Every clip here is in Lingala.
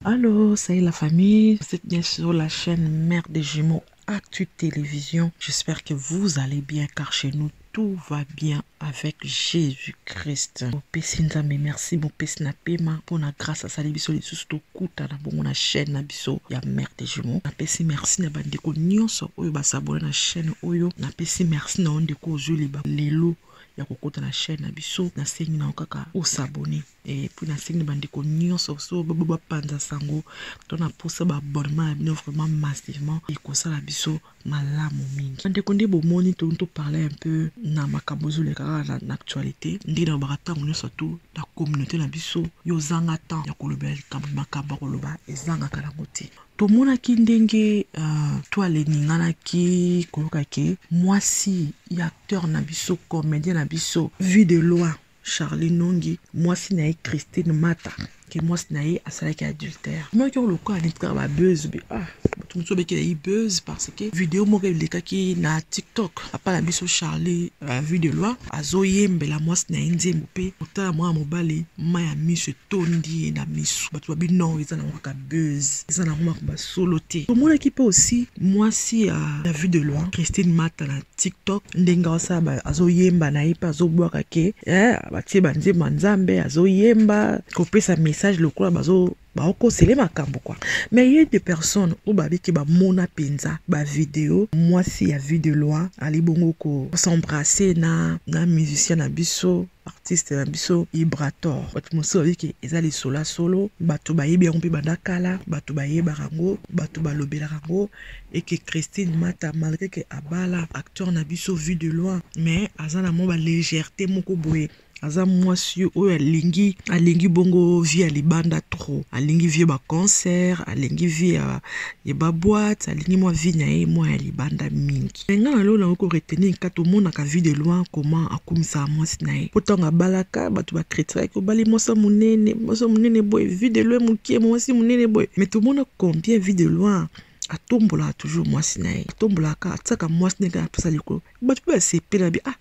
Allô, salut la famille, vous êtes bien sur la chaîne Mère des Jumeaux Actu Télévision. J'espère que vous allez bien car chez nous tout va bien avec Jésus-Christ. Mopesi Nzambe merci mopesi na pema mpo na grâce asali biso lisusu tokutana bongo na chaîne na biso ya mère de jumeaux. Napesi merci na bandeko nyonso oyo basabone na chaîne oyo. Napesi merci na yo ndeko ozwi liba lelo ya kokota na chaîne na biso. Nasengi na yo kaka osabone. Eh, mpo nasengi na bandeko nyonso so bapanza sango to na mposa baabonnement na bino vraiment massivement ekosala biso malamu mingi bandeko nde bomoni toni toparle un peu na makambo ezoleka kaka na actualité nde nalobaka ntango nyonso tu na communauté na biso yo ozanga temps ya kolobela likambo makambo ya koloba ezangaka nango te tomonaki ndenge uh, to aleninganaki koyoka ke mwasi ya acteur na biso comédien na biso vue de loin Charlie Nongi, mwasi na ye Christine Mata, ke mwasi na ye asalaki adultère. Maki yango lokola neti kaka ba buzz be ah bato mosusu babekela ye buzz parce que video moko elekaki na TikTok papa na biso Charlie uh, vue de loi azoyembela mwasi na ye nzembo mpe kotala mwana mobali mai ya miso etondi ye na miso bato babi non eza na mwaka buzz eza nango makambo ya solo te tomonaki mpe aussi mwasi ya la vue de loin christine mata na tiktok ndenge asala azoyemba na ye mpe azobwaka ke eh, batie banzembo ya nzambe azoyemba kopesa message lokola bazo baokosele makambo kwa mais ye de personne oyo babiki bamona mpenza bavideo mwasi ya vue de loin ali bongo kosembrasse na na musicien na biso artiste na biso Ibrator bato mosusu bayebi ke eza lisolo ya solo bato bayebi yango mpe banda kala bato bayebaka yango bato balobelaka yango eke Christine Mata malgre ke abala acteur na biso vue de loin mais aza na mwa ba légèreté moko boye aza mwasi oyo alingi alingi bongo vie ya libanda trop alingi vie ba concert alingi vie ya, ya ba boîte alingi mwa vie na ye mwa ya libanda mingi Mais nga na lola oko retenir kaka tomonaka vue de loin comment akumisaka mwasi na ye po tango abalaka bato ba critikaki obali mwasi ya monene mwasi ya monene boye vue de loin mokie mwasi monene boye mais tomona combien vue de loin atombolaka toujours mwasi na ye atombolaka kaka atiaka mwasi na ye kaka na place ya likolo bato mpe basepela bi ah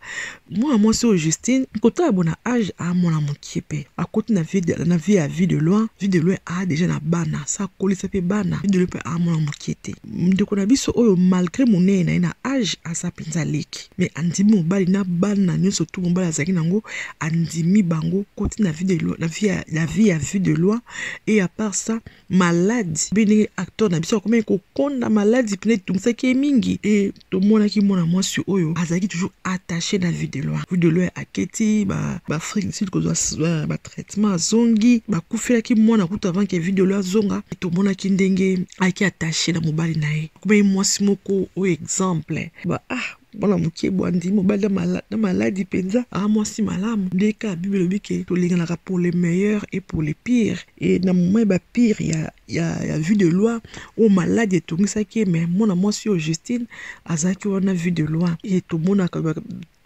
mwana mwasi oyo Justine kotala bona age a mwana mokie mpe akoti na vie na vie ya vie de loin vie de loin a deja na bana sa akolisa mpe bana vie de loin mpe a mwana mokie te ndeko na biso oyo malgre monene na ye na age aza mpenza leki me andimi mobali na bana nyonso tu mobali azalaki nango andimi bango koti na vie de loin na vie ya vie ya vie de loin et à part ça maladi mpe ndenge acteur na biso akomaki kokonda maladi mpena etungisaki ye mingi e tomonaki mwana mwasi oyo azalaki toujours attache na vue de loin vue de loin aketi baafrique ba du sud kozwa batraitement azongi bakufelaki mwana kutu avant ke vue de loin azonga tomonaki ndenge ayaki attache na mobali na ye akomaki mwasi moko oyo exemple ba ah mwana moke bwandi mobali na mala, na maladi mpenza aa mwasi malamu nde kaka bible elobi ke tolinganaka pour le meilleur et pour le pire e na moma ya bapire ya, ya, ya vue de loi oyo maladi etongisaki ye me mwana mwasi oyo justine azalaki wana vue de loi e tomonaka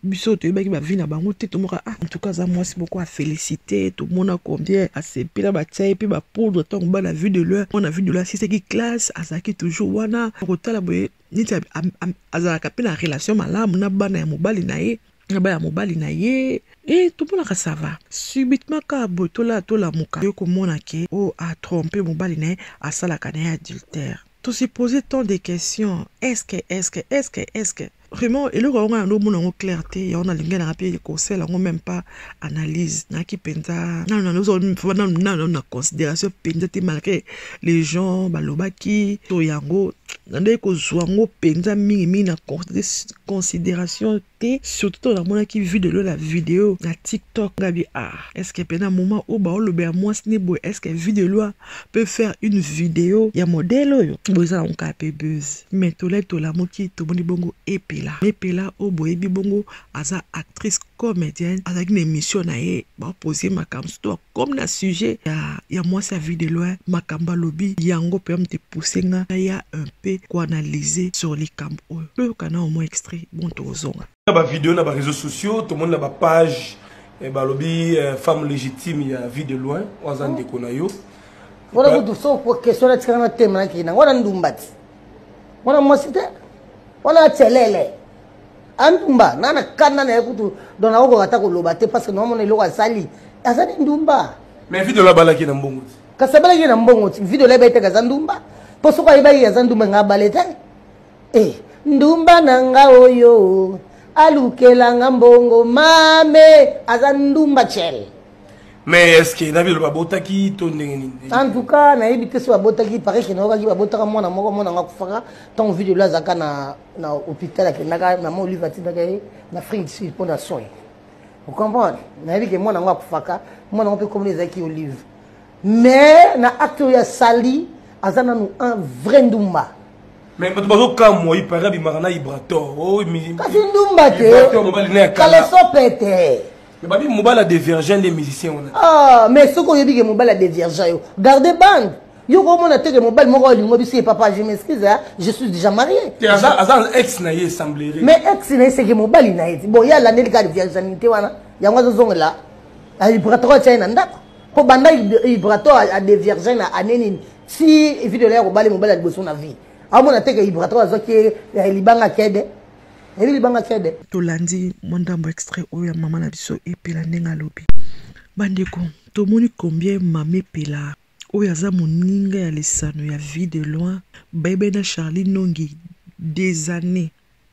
biso toyebaki bavi na bango te tomoka ah, antuka aza mwasi moko afélicité tomona combien asepela batya ye mpe bapoudre ntango bana vue de leur mwana vue de leur asisaki classe azalaki toujours wana kotala boye neti azalaka mpe na relation malamu na bana ya mobali na ye na bana ya mobali na ye e eh, tomonaka sava subitement kaka boye tola tolamuka yo komona ke o oh, atrompe mobali na ye asalaka na ye adultère tosepose tant de questions eske eske eske eske vraiment eloko yango ngai yango omona yango clair te yango nalingi nanga mpe kosela yango meme pas analyse naki mpenza nano nano na considération mpenza te malgré les gens balobaki to yango nandaki kozwa yango mpenza mingimingi na considération te surtout ntango namonaki vue de lola video na tiktok ngabi ah est ce que mpe na moment oyo baolobela mwasi ne boye est ce que vue de loi peut faire une video ya modele oyo boye eza nango kaka mpe buzz mais tolai tolamuki tomoni bongo epela epela oyo boyebi bongo aza actrice comedienne azalaki na émission na ye bapoze ye makambo surtout akomi na sujet ya, ya mwasi ya vie de loin makambo alobi yango mpe amte pousse nga naya un peu koanalyse sur likambo oyo toyoka na omwa extrait bon tokozonga na bavideo na bareseau sociaux tomoni na bapage eh, balobi eh, femme légitime ya vie de loin oyo aza ndeko na yo wana kutu so question natikaka na teme nakei nango wana ndumbati wana mwasi te wana acelele andumba nga na kanda na ye kutu don nakokoka ata koloba te parce que naomona eloko asali aza nde ndumba mais video labalaki na mbongo te kasi abalaki ye na mbongo ti video layebai te kaza ndumba mpo soki ayebaki ye aza ndumba nga abale te e eh, ndumba na nga oyo alukela nga mbongo mame aza ndumba cel mais est ce que na video babotaki to ndenge nini en tout cas nayebi te so babotaki pareil ke nayokaki babotaka mwana moko mwana nga kufaka ntango video lo azalaka na na hôpital akendaka mama olive atindaka ye na afrique du sud mpo na soin ocomprendre nayebi ke mwana yango akufaka mwana yango mpe komona ezalaki olive mais na acte oyo asali aza nanu un vrai ndumba mais bato bazokamwa ipare abimaka na ibrator oh, kasi ndumba te kaleso pete babi mobali ya devirgin nde musicien wana ah, mais soki oyebi ke mobali ya devirgin yo garde bande yo komona te ke mobali moko alingo biso ye papa je m'excuse hein? je suis déjà marié te aza aza ex na ye semblerait mais ex na ye seke mobali na ye ti bon ye alandeli kaka virginité wana yango azozongela vibratoire atya ye na ndako mpo banda vibratoire adevirgin na année nini ti video na ye akobali mobali ya liboso na vie amona te ke vibratoire azwaki ye eh, libanga kede ebi libanga kede tolandi mwa ndambo extrait oyo ya mama na biso epela ndenge alobi bandeko tomoni combien mama epela Oyo aza moninga ya lisano ya vie de loin bayebai na Charly nongi des annees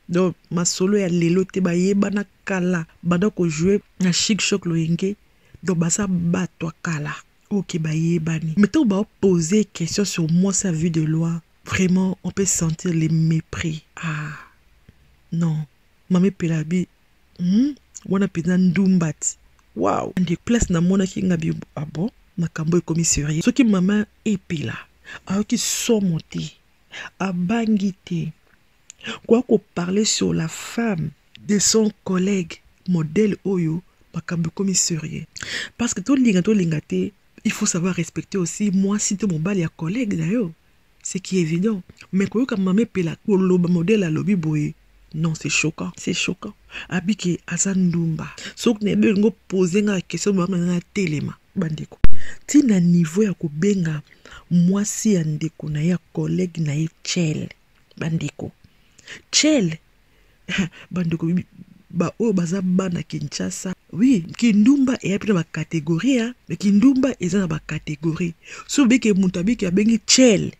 donc masolo ya lelo te bayebana kala banda ko jouer na chic choc loyenge donc baza batu ya kala oyo ke bayebani mais ntango bao pose question sur mwasi ya vie de loin vraiment on peut sentir le mepris ah non mame pelabi Hum, wana mpenza ndumbati. Wow, nde place namonaki nga bi ah bon, makambo ekomi serieux. Soki mama epela ayoki somo te, abangi te koya koparle sur la femme de son collègue modèle oyo makambo ekomi serieux parce que tolinga tolinga te il faut savoir respecter aussi mwasi to mobali ya collègue na yo C'est qui évident. Mais koyoka mama epela koloba modèle alobi boye. Non, c'est choquant, c'est choquant. Abike aza ndumba. Soki na ebe ngo poser nga question ba na telema bandeko. Tina niveau ya kobenga mwasi ya ndeko na ya collègue na ye chel. Bandeko. Chel bandeko baoyo baza bana kinshasa oui kindumba eya mpe na bacategorie ya me kindumba eza na bacategorie so obeke moto abiki abengi chel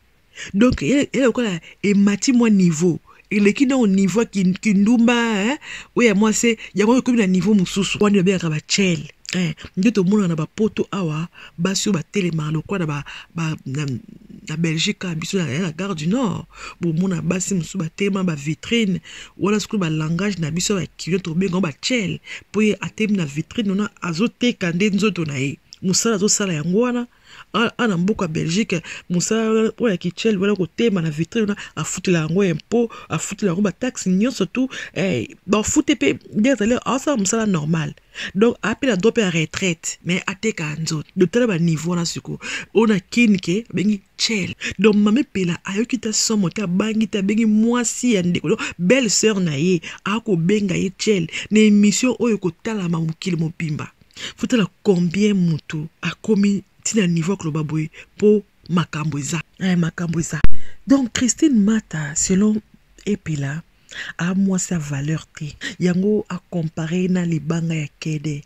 donc eya lokola emati mwa niveau eleki nao niveau ya kindumba oyo ya mwase yango ekomi na niveau mosusu wana babengaka bachele Eh, nde tomonaka na bapoto awa basi oyo batelemaka lokola na, ba, na, na belgique kaka biso ya na gare du nord bomona basi mosusu batelema bavitrine wana sikoyo balangage na biso ya bakilo tobengango bachele mpo ye atelemi na vitrine wana azoteka nde nzoto na ye mosala azosala yango wana a na mboka belgique mosala oyo ya kichel wana kotema na vitre wana afutela yango impo afutela yango bataxe nyonso tu eh, bafute mpe nde azali asala mosala normal donc apela do mpe ya retraite mais ateka nzoto donc tala baniveau wana sikoyo oyo na kini ke abengi chel donc mame pela ayoki ta somo te abangi te abengi mwasi ya ndeko donc belle sœur na ye akobenga ye chel na émission oyo ekotalama mokili mobimba Fotala combien mutu akomi tina niveau ya koloba boye po makambo eza. Eh, makambo eza. Donc Christine Mata selon Epela a mwasi ya valeur te. Yango a comparer ye na libanga ya kede.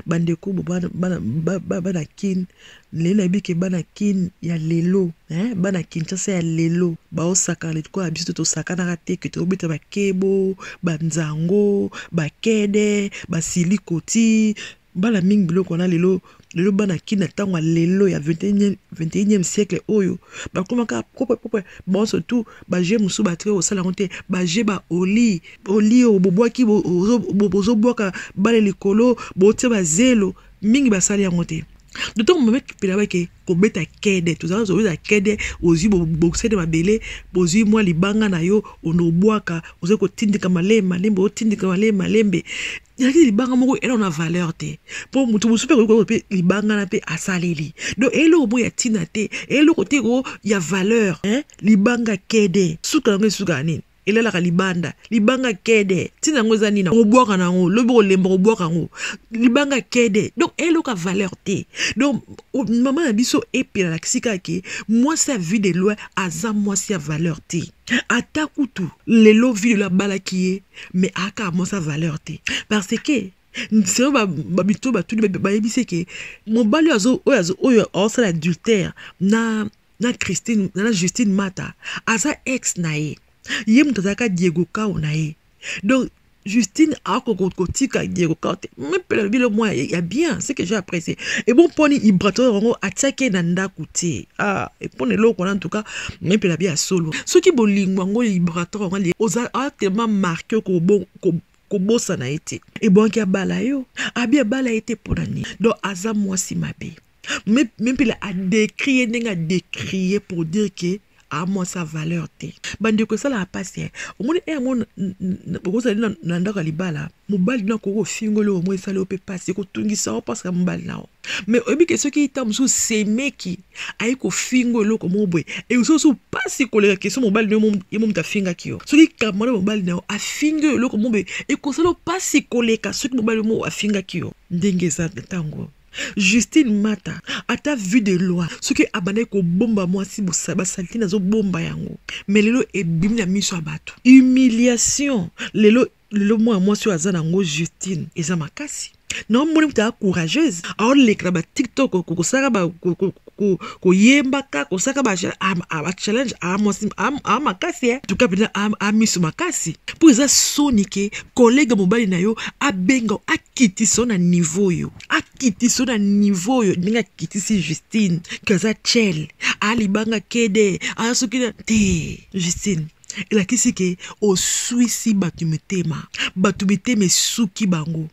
Bandeko bana kin Lelo nayebi ke bana kin ya lelo hein bana Kinshasa ya lelo bao sakana lokola biso tosakanaka te que tobeta ba kebo ba nzango ba kede ba silikoti bana mingi biloko wana lelo lelo bana kin na tango ya lelo ya 21 siècle oyo bakoma kaka propre propre bango surtout ba jeux mosusu batike kosala yango te ba jeux ba oli oli oyo bobwaki bozobwaka bale likolo botie ba zelo mingi basali yango te d'autant que mabeki pela bake kobeta kede tozala zobeta kede ozwi bobokisede mabele bozwi mwa libanga na yo ono obwaka ozali kotindika malembe malembe otindika malembe malembe ezalaki libanga moko eloko na valeur te mpo moto mosusu mpe akoki mpe libanga na mpe asaleli donc eloko moko ya ntina te eloko te ko ya valeur libanga kede suka yango esuka nini elalaka libanda libanga kede ntina yango eza nini okobwaka na yango lobi okolemba okobwaka yango libanga kede donc eloka valeur te donc mama na biso epelalaki sika ke mwasi ya vie de loin aza mwasi ya valeur te ata kutu lelo video abalaki ye mais aka mwasi ya valeur te parce que selo bamito batuni bayebisi eke mobali oyo aosala adultère na na Christine na Justine Mata aza ex na ye ye moto azalaka Diego Kao na ye donc Justine akoko kotika Diego Kao te mais pela lobi lo mwa ya bien ce que j'ai apprécié et bon poni Ibrator yango atiaki ye na ndako te ah et pona eloko na en tout cas mais pela bi ya solo soki bolingo yango Ibrator yango ali oza a tellement marqué ko bon ko kobosana ye te ebonki abala yo abi abala ye te mpo na nini donc aza mwasi mabe Mais, même pile a décrié, ndenge a décrié pour dire que a moi sa valeur te. Bande ko sala pasi. Eh. Omoni eh mo bokozali na, na ndako ya libala, mobali na koko fingoli o moi sala ope pasi ko tungisa o parce que mobali na o. Mais oyebi ke soki ita musu semeki ayi ko fingo eloko mo boye. E so so pasi ko leka keso mobali no ye mo mutafinga ki yo. Soki kamana mobali na yo afingo eloko mo boye, e ko sala pasi ko leka soki mobali mo afinga ki yo. Ndenge eza tango. Justine Mata ata vue de loi soki abandaki kobomba mwasi basalite nazobomba yango me lelo ebimi na miso ya bato humiliation lelo lelo mwana mwasi oyo aza na yango Justine eza makasi naomoni moto aa courageuse aolekela batiktok kokosalaka ko koyembaka kosaka ba ah, ah, ba challenge a ah, mwasi a makasi eh tuka pena a miso makasi po eza soni ke collègue mobali na yo abenga akitiso na niveau yo akitiso na niveau yo ndenge akitisi Justine kaza chel alibanga kede a soki na te Justine elakisi ke oswisi bato mitema bato mitema esuki bango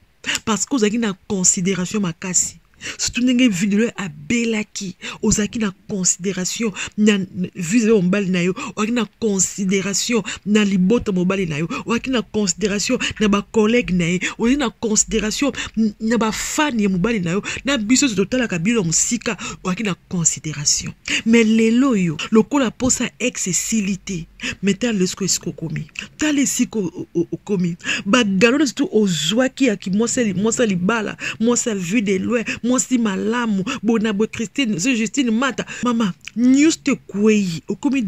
parce que ozalaki na considération makasi surtout ndenge video abelaki ozalaki na considération na vise ya mobali na yo ozalaki na considération na libota mobali na yo ozalaki na considération na bacollègue na ye ozalaki na considération na bafani ya mobali na yo na biso oyo totalaka bino ya mosika ozalaki na considération mais lelo oyo lokola mposa ex esili te me tala esika esika okomi tala esika okomi bagalo nyonso tu ozwaki ya mwasi ya libala mwasi ya vue de loin mwasi malamu bona boye christine so justine mata mama nyonso te ekwei okomi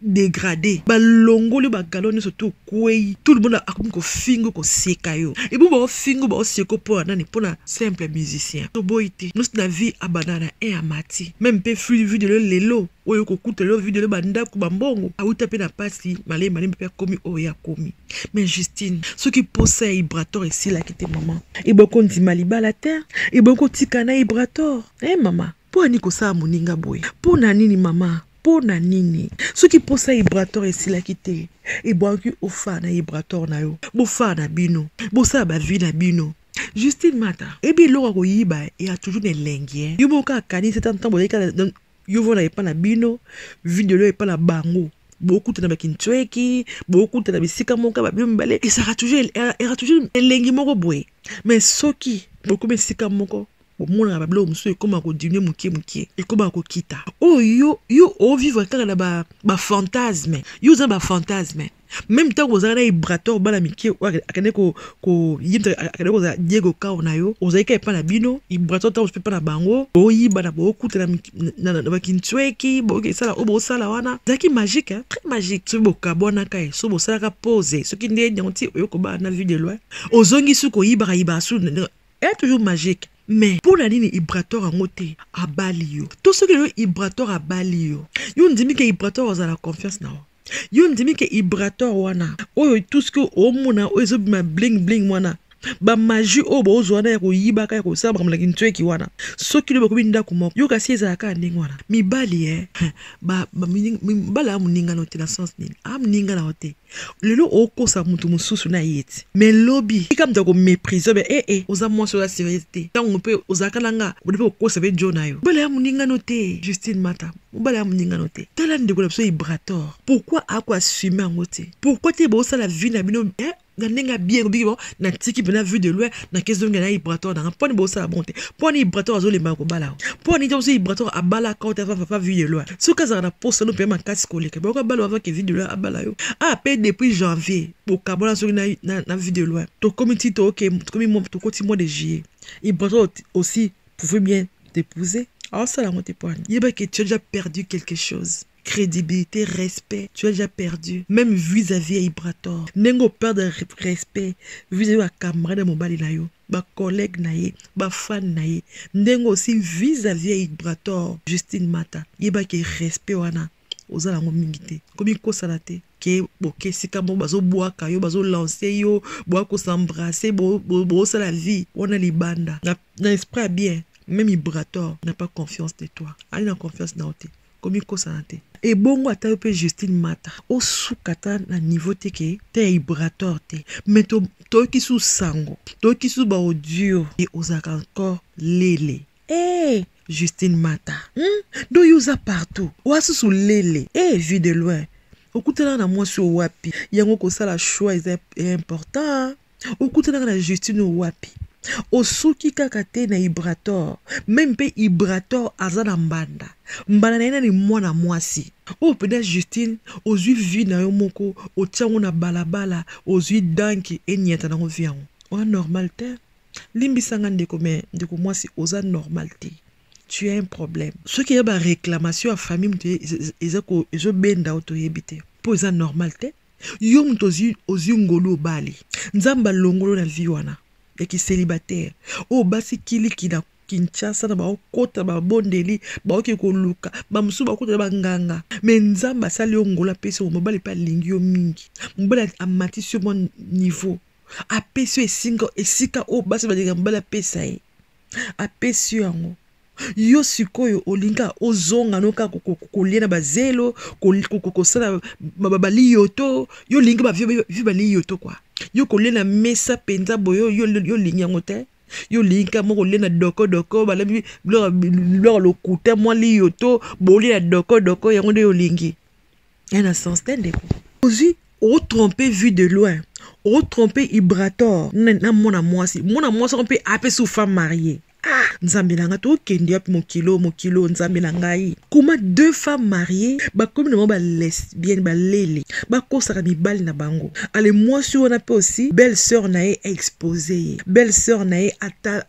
degrade balongoli bagalo nyonso tu okwei tout le monde akomi kofingo koseka yo ebo baofingo baoseko mpo na nani mpo na simple musicien toboyi te nyonso na vie abanda na e amati meme mpe flux vue de loin lelo oyo kokuta lelo video lelo bandako bambongo awuta mpe na mpasi malembe malembe mpe akomi oyo ye akomi mais justine soki mposa ya ibrator esilaki te mama eboki kondima libala te eboki kotika na ibrator e eh, mama mpo ani kosala moninga boye mpo na nini mama mpo na nini soki mposa ya ibrator esilaki te ebwaki ofaa na ibrator na yo bofaa na bino bosala bavi na bino justine mata ebi eloko akoyiba ya toujours na elengi yo moko kaka akanisi ata ntango bozalaki yo vona epa na bino video leo epa na bango bokutana bakintsweki bokutana bisika moko babino mibale ezaka toujours era toujours elengi moko boye mais soki bokomi esika moko bomonaka babiloko mosusu ekómaka kodimine moke moke ekómaka kokita oyo oh, yo yo ovivre kaka na bafantasme ba yo oza na bafantasme meme ntango ozalaka na ibrator bana mike akende akende kozala diego kao na yo ozalika epa na bino ibrator ntango epa na bango boyibana bokutana na bakintsweki bokesala oyo bosala wana ezalaki magique très magique soki bokabwanaka ye soki bosalaka pose soki nde yango ti oyo kobaa na vue de loin ozongi su koyibaka yibaka su est toujours magique mais mpo na nini ibrator yango te abali yo to soki lelo ibrator abali yo yo ondimi ke ibrator azala confiance na yo yo ndimi ke ibrator wana oyo tout ce que omona oyo ezobima bling bling wana bamaji oyo bozwa na ya koyibaka ya kosala makambo na kintueki wana soki lobi okomi ndako moko yo kasi ezala kaka ndenge wana mibali e mibali aya moningano te na sens nini aya moninga nao te lelo okosa motu mosusu na ye ti me lobi tika moto akomeprise be ee eh, eh, oza mwasi oza seriese te ntango mpe ozalaka na nga ode mpe okosa mpe jo na yo mibali aya moningano te justine mata mobali ya moningano te tala ndeko na biso ibrator pourkui ako assume yango te pourkui te bosala vi na bino eh, na ndenge ya bien obiki bon natiki mpena vue de loin nakezonge na ibrator nanga mponi bosala bon te mponi ibrator azolemba kobala o mponi te oso ibrator abalaka ote afa papa vue de loin soki azalaka na posa no mpe makasi koleka bayoka balo avake vue de loin abala yo a ah, mpe depuis janvier bokabona soki na, na, na vue de loin tokomi ti tooke tokomi tokoti mois de juillet ibrator aussi pouvez bien t'épouser aosala yango te poani yeba ke tu as déjà perdu quelque chose crédibilité respect tu as déjà perdu même vis-à-vis ya ibrator ndenge operdre respect vis-à-vis ya camarade ya mobali na yo bacollègue na ye bafane na ye ndenge osi vis-à-vis ya ibrator justine mata yeba ke respect wana oza nango mingi te komikosana te ke boke esika moko bazobwaka yo bazolanse yo boya kosembrase bosala vie wana libanda na, na esprit ya bien meme mibrator na pas confiance de toi ali na confiance na yo te komikosana te ebongo ata yo mpe justine mata osuka ata na niveau te ke te ya ibrator te mai toyoki susu sango toyoki susu baaudio e ozalaka encore lele Hey, Justine Mata, hmm? do yo oza partout oa susu lele hey, vue de loin okutanaka na mwasi oyo wapi yango kosala choix eza important okutanaka na Justine oyo wapi osuki kaka te na ibrator meme mpe ibrator aza na mbanda mbanda na ye nani mwana mwasi oyo mpenza justine ozwi vi na yo moko otyango na balabala ozwi danki enyata nango vi yango oa normal te Limbisa nga ndeko mais ndeko mwasi oza normal te. Tu as un problème. Soki ya ba réclamation ya famille mutu eza ko ezo benda o toyebi te. Po eza normal te. Yo mutu ozi ozi ngolu obali. Nzambe alongolo na vie wana ya ki celibataire. Oyo basi kiliki na Kinshasa na baokota babondeli baoke koluka bamosusu bakota na banganga me nzambe asali yo ngola apesi yo mobali mpe alingi yo mingi mobali amatisi yo mwa niveau apesi yo esinga esika oyo basi balinga mobali apesa ye apesi yo yango yo sikoyo olinga ozonga no kaka kolia na bazelo kosala baliyoto yo olingi bavi baliyoto kua yo kolia na mesa mpenza boye yo olingi yango te yo olingi kaka moko olia na dokodoko balabi biloko lokuta mwa liyoto bolia na dokodoko yango nde yo olingi ya na sens te ndeko ozwi otrompe vue de loin otrompe ibrator na mwana mwasi mwana mwasi yango mpe apesi femme marie ah nzambe na ngai tokende wapi mokilo mokilo nzambe na ngai koma deux femmes mariées bakomi na bango balesbienne balele bakosaka mibali na bango ale mwasi wana mpe osi belle sœur na ye aexpose ye belle sœur na ye ata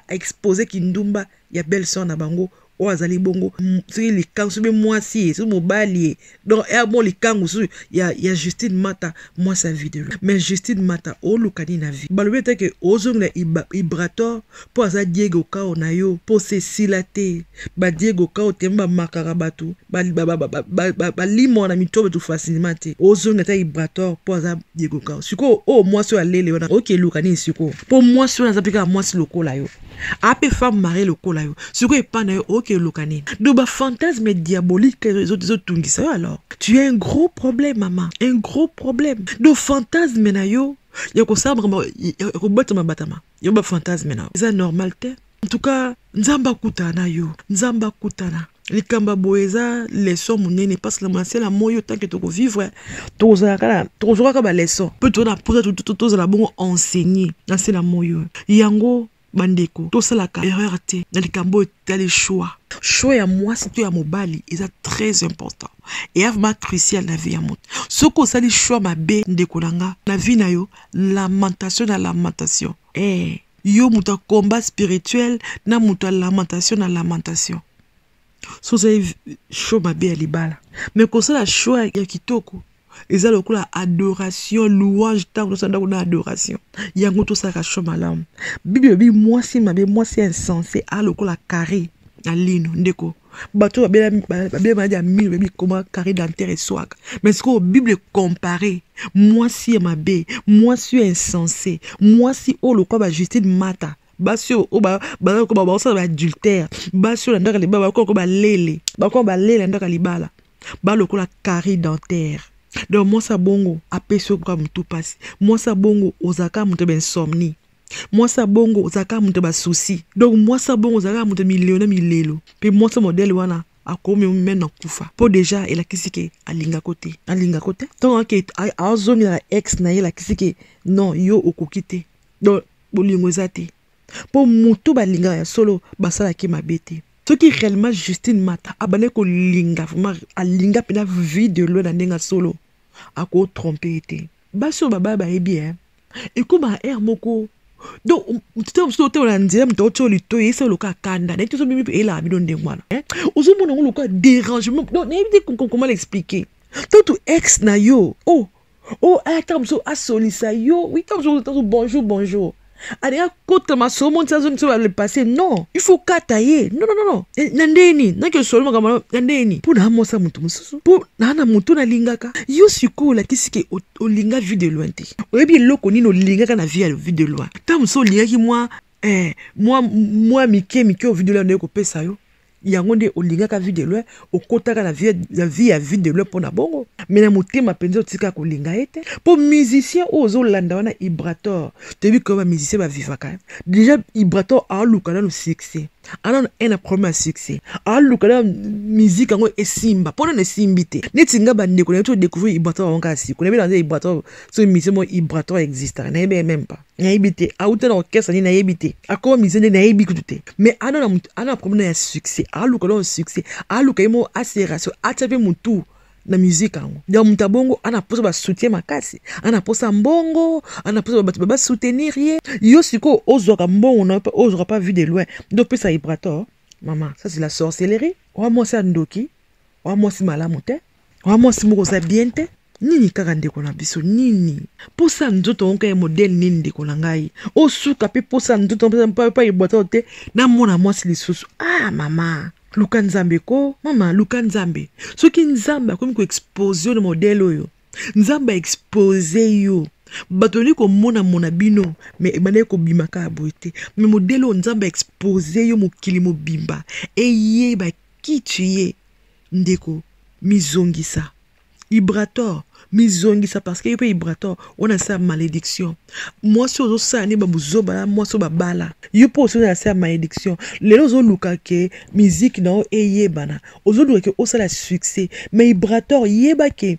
aexpose kindumba ya belle sœur na bango oyo azali bongo soki likangu soki mwasi ye soki mobali ye donc ya bon likangu soki ya, ya justine mata mwasi ya video mais justine mata oluka nini na vie balobi ete ke ozongela ibrator mpo aza diego kao na yo mpo sesila te badiego kao te bamakaka bato balimwa na mitobe to facilement te ozongela ata ibrator mpo aza diego kao sikoyo oyo mwasi oyo alele wana okeluka nini sikoyo mpo mwasi wana aza mpe kaka mwasi lokola yo ape femme marie lokola yo sikoyo epa na yo oke oluka nini do bafantasme diabolique ezotungisa yo alors tu as un gros problème mama un gros problème do fantasme na yo ya kosala makambo ya kobatama batama yo bafantasme na yo eza normal te en tout cas nzambe akutana na yo nzambe akutana likambo ya boye eza leson monene mpasi na masela moyo tanke tokovivre tokozwaka baleson mpe tona mposa tozala bongo enseigné na nsela moyo yango bandeko tosalaka erreur te na likambo oyo etali choix choix ya mwasi to ya mobali eza très important eya vraimen crucial na vie ya moto soki osali choix mabe ndeko na nga na vie na yo lamentation na lamentation eh. yo moto ya combat spirituel na moto ya lamentation na lamentation so ozali show mabe ya libala me kosala show ya kitoko eza lokola adoration louange ntango tosala ndako na adoration yango tosalaka show malamu bible elobi mwasi mabe mwasi ya insense a lokola carre na lino ndeko bato babela maladi ya mino bayebi koma carré dentaire eswaka mais sikoyo bible compare mwasi ya mabe mwasi oyo insense mwasi oyo lokola bajustine mata basi oyo bakoba bakosala baadultère basi oyo landaka libala bakoba ko balele bakoba balele landaka libala balokola carré dentaire donc mwasi ya bongo apesi yo kaka motu mpasi mwasi ya bongo ozalaka moto ya bainsomnie mwasi ya bongo ozalaka moto ya basusi donc mwasi ya bongo ozalaka moto milelo na milelo mpe mwasi modele wana akomi meme na kufa mpo deja elakisi ke alingako te alingako te ntango ake azongela na ex na ye elakisi ke non yo okoki te donc bolingo eza te mpo motu balingaka ya solo basalaki mabe te soki réellement justine mata abandaki kolinga vraiment alinga mpena vie de loi na ndenge ya solo akotrompe ye te basi oyo babaya bayebi e ekomaka heure moko donc ntango um, mosusu otambola na nzela moto aotya lito eyesa loka akanda nayebi tozo mimi eyelaka bino ndenge wana eh? ozomona yango loka dérangement donc nayebi te comment l'expliquer to tu ex na yo oh oh aya ntango mosusu asolisa yo wi ntango mosusu bonjour bonjour alingi akota masolo monti azongisa oyo le passé non il faut kata ye non non non eh, na ndenge nini naki osolo makambo na ndenge nini mpo naamosa moto mosusu mpo naa na moto nalingaka yo sikoyo olakisi ke olinga vue de loin te oyebi eloko nini olingaka na vie ya vue de loin ntango mosusu olingaki mwa eh, mwa mwa mike mike ovue de loin naye kopesa yo yango nde olingaka vie de loin okotaka na vie, na vie ya vie de loin mpo na bongo me na motema mpenza otika kolinga ye te mpo musicien oyo ozolanda wana ibrator toyebi koyo bamusicien bavivaka deja ibrator aoluka nano succès anano ena problème ya succès aoluka na musike yango esimba mpo nano esimbi te neti nga bandeko nayebi to découvrir ibrator yango kaka siko nayebi naza ibrator so musicien moko ibrator existaka nayebi ye meme pas nayebi te auta na orchestre nini nayebi te akoma musicien nde nayebi kutu te mais ana na mutu ana na problème ya succès aluka na succès aluka ye moko aserasio atia mpe mutu na musique yango ya moto ya bongo ana mposa basoutien makasi ana mposa mbongo ana mposa bato basoutenir ye yo sikoyo ozwaka mbongo na yo mpe ozwaka mpa vie de loin nde opesa ibrator mama ça c'est la sorcellerie oa mwasi ya ndoki oa mwasi malamu te wa mwasi moko oza bien te nini kaka ndeko na biso nini mposa ya nzoto yango kaka modele nini ndeko na ngai osuka mpe mposa ya nzoto mpa ebwata yo te namona mwasi lisusu ah mama luka nzambe ko mama luka nzambe soki nzambe akomi koexpose yo na modele oyo nzambe aexpose yo bato balingi komonamona bino me ebandaki kobima kaka boye te me modele oyo nzambe aexpose yo mokili mobimba eyeba kitu ye Ndeko, mizongisa. Ibrator, mizongisa parce que yo pe Ibrator, on a sa malédiction. Moi si ozo sa ni babuzoba la moi so babala. Yo pe ozo na sa malédiction. Lelo ozo luka ke musique na o eyebana. Ozo luka ke osala succès. Mais Ibrator yeba ke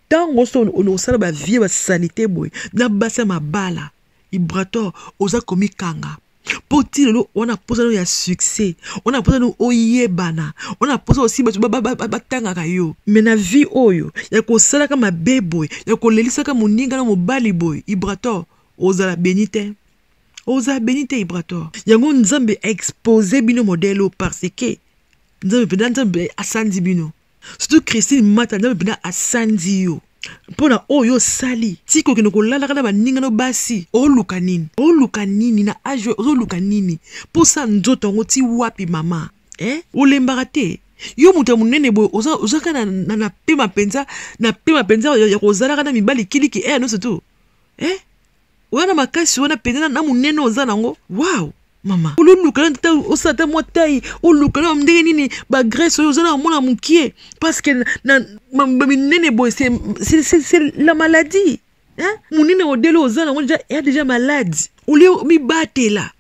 tango so olosala ba vie ba salite boye na basa mabala. Ibrator oza komikanga. mpo ti lelo wana mposano ya succès wana mposano oyebana wana mposa osi bato batangaka yo me na vie oyo ya kosalaka mabe boye ya kolelisaka moninga na mobali boye ibrator ozala beni te ozala beni te ibrator yango nzambe aexpose bino modele oyo parce que nzambe mpenza nzambe asanzi bino surtout christine mata nzambe mpenza asandi yo mpo na oyo osali tika okende kolalaka na baninga no basi oluka nini oluka nini na age ozoluka nini mpo sa nzoto yango ti wapi mama eh? olembaka te yo moto ya monene boye ozalaka na, na, na pema mpenza na pema mpenza ya, ya kozalaka na mibali kiliki ere eh, nyonso tu eh? oza na makasi wana mpenza na monene oza nango waw mama ololuka na tata osala ata mwa tai oluka na ndenge nini bagrese oyo oza na mwana mokie parceke na minene boye se la maladie monene odele oza nango deja ya deja malade olie omibatela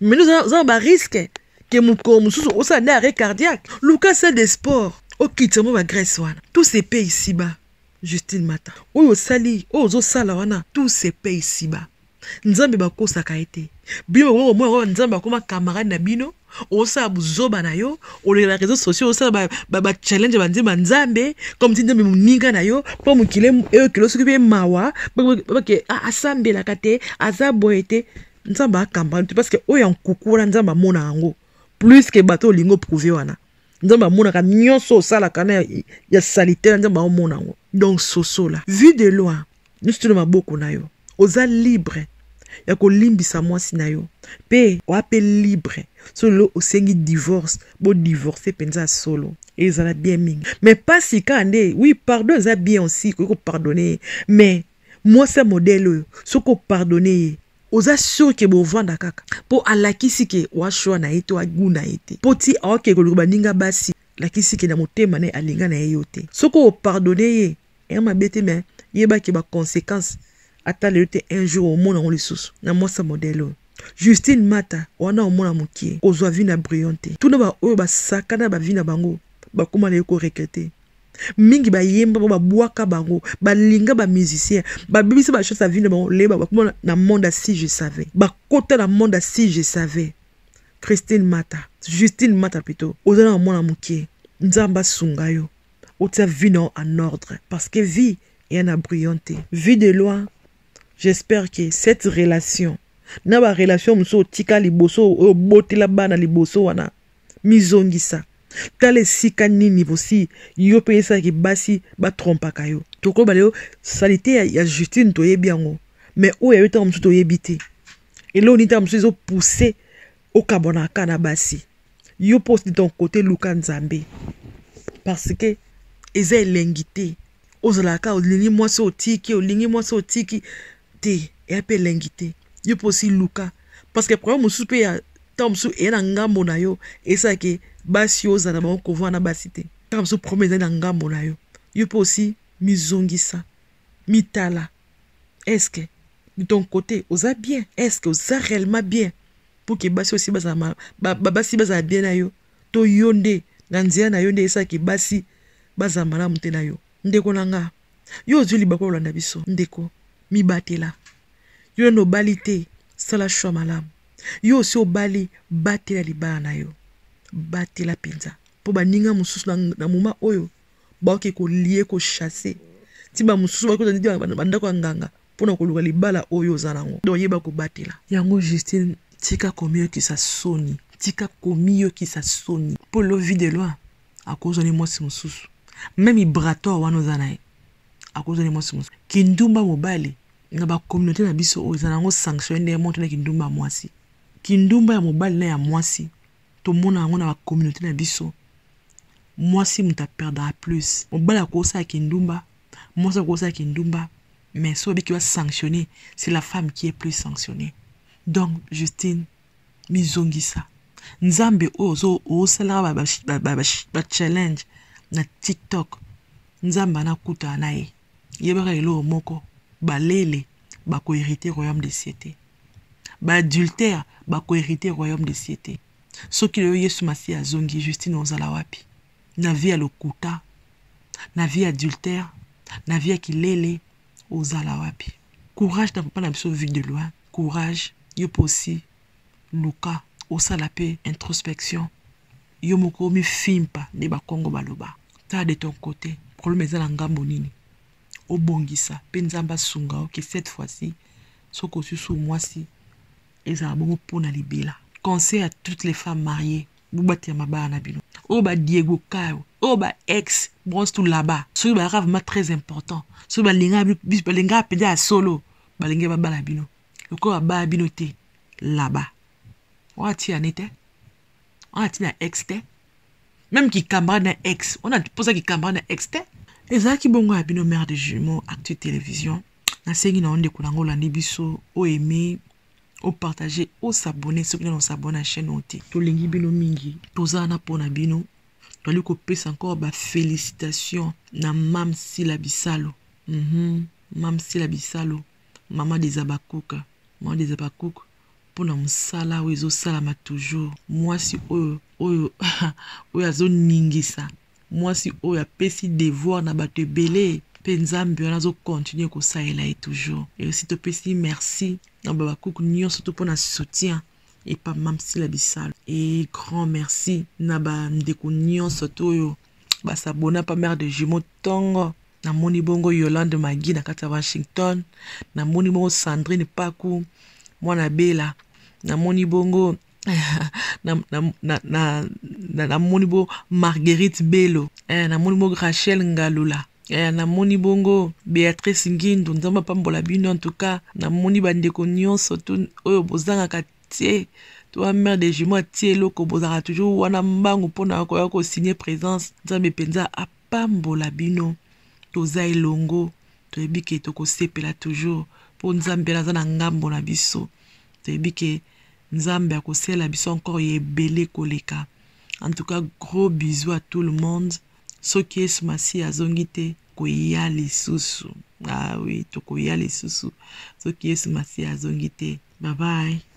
mino oza na bariske ke mokolo mosusu osala nde arret cardiaque luka salle de sport okitisa mwa bagrèce wana tout se paye ici bas justine mata oyo osali oyo ozosala wana tout se paye ici bas nzambe bakosaka ye te bino bakoki komona kaka nzambe akoma camarade na bino osala buzoba na yo olela réseau sociaux osala bachallenge ba, ba, ba banzemba nzambe comme ti nzambe moninga na yo mpo mokili eyokelo soki mpe mawa bake asambelaka te aza boye te nzambe akamba te parce que oyo ya nkuku wana nzambe amona yango plus ke bato olingi oprouve wana nzambe amonaka nyonso osalaka na ya salite na nzambe aomona yango donc sosola vue de loin nyonso tino maboko na yo oza libre ya kolimbisa mwasi na yo mpe oa mpe libre so lelo osengi divorce bodivorce mpenza ya solo ezala bien mingi mais mpasi kaka nde oui pardon eza bien aussi koki kopardonne ye mais mwasi ya modele oyo soki opardone ye oza sur ke bovanda kaka mpo alakisi ke washwa na ye to agu na ye te mpo ti aoke koluka baninga basi lakisi ke na motema na ye alinga na ye yo te soki opardone ye eya mabe te me yeba ke baconsequence ata lelo te un jour omona yango lisusu na mwasa modele oyo justine mata wana omona mokie kozwa vi na brion te tuna baoyo basakana bavi na bango bakoma na ye koregrete mingi bayemba ba babwaka bango balinga ba musicien babebisa ba chance ya vie na bango leye bakoma na monde si je savais bakota na monde si je savais christine mata justine mata plutôt oza na mwana moke nzambe asunga yo otia vie na yo en ordre parce que vie eya na brillant te vie de loin j'espère que cette relation na barelation mosusu otika liboso oyo obotela bana liboso wana mizongisa tala esika nini bosi yo mpe esalaki basi batrompaka yo tokoloba lelo salite ya, ya justine toyebi yango me oyo ya yo ntango mosusu toyebi te eloo nini ntango mosusu ezopuse okabwanaka na basi yo mpo osili ton kote luka nzambe parce que eza elengi te ozalaka olingi mwasi otiki olingi mwasi otiki te eya mpe elengi te yo mpe osi luka parce que problème mosusu mpe ya ntango mosusu eya na ngambo na yo esalaki basi oyo ozala na bango kovanda na basi te ntango mosusu problème ezali na ngambo na yo yo mpe osi mizongisa mitala eske de ton côté oza bien eske oza réellement bien mpo ke basi osi bazala babasi bazala bien na yo To yo nde na nzela na yo nde esalaki basi bazala malamu te na yo? Ndeko na nga, yo ozwi libaku ya kolanda biso? Ndeko, mibatela. Yo nano obali te, sala choix malamu. Yo osi obali, batela libala na yo. Batela mpenza. Mpo baninga mosusu na, na moma oyo baoki kolie, kochasse. Ti bamosusu bakoki kozala bandako ya nganga, pona koluka libala oyo oza nango donc yeba kobatela yango Justine tika komiyokisa soni tika komiyokisa soni po lovi de loi akozwa ne mwasi mosusu meme ibrator wana oza na ye akozwa ne mwasi mosusu kindumba mobali na bacommunauté na biso oyo eza nango sanction nde moto na kindumba ya mwasi kindumba ya mobali na ya mwasi tomona yango na bacommunauté na biso mwasi moto aperdaka plus mobali akosala kindumba Mwasi yango oza kindumba mais soki obiki ba sanctionner c'est la femme qui est plus sanctionnée. Donc Justine mizongisa. Nzambe oyo ozo osalaka ba, ba, ba, ba, ba challenge na TikTok. Nzambe anakuta na ye. Yebaka eloko moko balele bakoherite royaume de cieux te baadultère bakoherite royaume de cieux te soki lelo yesu masiya azongi justine ozala wapi na vie ya lokuta na vie ya adultère na vie ya kilele ozala wapi courage na papa na biso vue de loin courage yo mpe osi luka osala mpe introspection yo moko omifimpa nde bakongo baloba tala de ton côté problème eza na ngambo nini obongisa mpe nzambe asunga yo ke cette fois-ci soki osusu mwasi ezala bongo mpo na libela conseil à toutes les femmes mariées bobatela mabala na bino oyo ba diego kayo oyo ba ex bronze to laba soki bayaka vraiment très important soki balingaka balingaka mpenza ya solo balingi babala bino lokola babala bino te laba wana ti ane te wana ti na ex te meme kikambara na ex wana mposa kikambara na ex te ezalaki bongo ya bino mare de jumeau actu télévision nasengi na yo ndeko na yango olandi biso oyo eme o partager o s'abonner soki nano s'abonner na chaîne oyo te tolingi bino mingi toza wana mpo na bino toali kopesa encore ba félicitation na mam sila bisalo mm -hmm. mam sila bisalo mama des abakuka mama des abakuka mpo na mosala oyo ezosalama toujours mwasi oyo oyo oyo azoningisa Mwasi oyo apesi devoir na bato ebele mpe Nzambe wana azo continuer kosalela ye toujours. Et aussi topesi merci na Habacuc nionso surtout mpo na soutien epa Mam Sila Bisalu. Et grand merci na ba ndeko nionso to oyo ba s'abonner pa mère de jumeaux tongo namoni bongo Yolande Magi na kati ya Washington, namoni bongo Sandrine Paku mwana Bela, namoni bongo na, na, na, na, na, na moni bo marguerite belo eh, na moni bo rachel ngalula eh, na moni bongo beatrice ngindu nzambe apambola bino en tout cas na moni bandeko nyonso tu oyo bozangaka tie toi mère de jumeau atie eloko bozalaka toujours wana mbangu mpona koya kosigne présence nzambe mpenza pambola bino toza elongo toyebi ke tokosepela toujours mpo nzambe aza na ngambo na biso toyebi ke nzambe akosalela biso encore ya ebele koleka en tout cas gros bisous à tout le monde soki yesu masiya azongi te koya lisusu ah oui tokoya lisusu soki yesu masiya azongi te bye bye